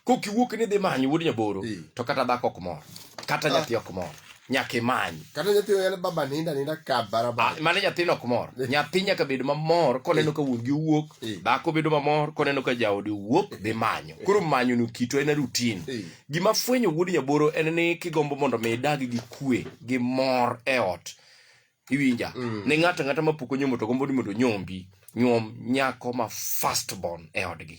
kok iwuok ni dhi manyo wuod nyaboro Eh. to kata dhako ok mor kata nyathi ok mor nyaka imany kata nyathi oyal baba ninda ninda ka Ah, barabara mane nyathino ok mor nyathi nyaka bed mamor koneno ka wuon gi wuok Eh. dhako bedo mamor koneno ka jaode wuok dhi manyo koro manyo ni kito en rutin Eh. gima fwenyo wuod nyaboro en ni kigombo mondo mi idag gi kwe gi mor e ot iwinja ni ng'ato ang'ata ma pok onyomo to gombo ni mondo onyombi nyuom nyako ma first born e odgi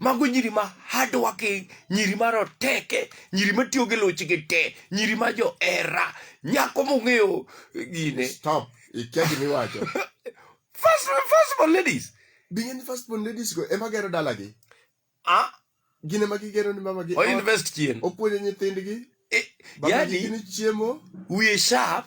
Mago nyiri ma hardworking, nyiri ma roteke, nyiri ma tiyo gi luchgi te, nyiri ma johera, nyako mong'eyo gine. Stop. Ikia gima iwacho. First, first born ladies. Binge ni first born ladies go ema gero dalagi. Ah, Gin ema gigero ni mamagi. o ot, invest chien. Opuonjo nyithindgi. Eh, Babagi Yani, gini chiemo. we sharp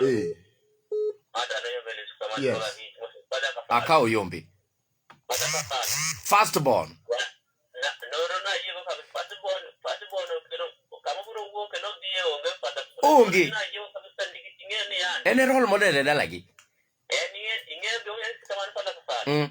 Eh. Yes. Aka oyombe. First born. Onge. En e role model e dalagi. Mm.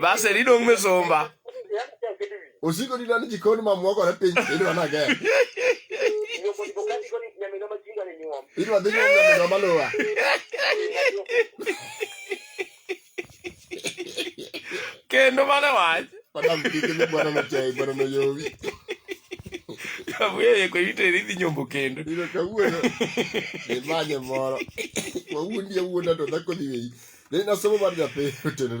basi ridong' misumba osiko ni dani jikon mamwa kore piny idwa na gem idwa dhi nyom nyaminwa maluwa kendo mane wach Madam kike ni bwana na chai bwana na yowi. Kabuya ye ko ite ridhi nyombo kendo. Ino kawuono. Ni manye moro. Wawundi awuonda to dhako dhi weyi. Ne nasomo mar nyathi otenore.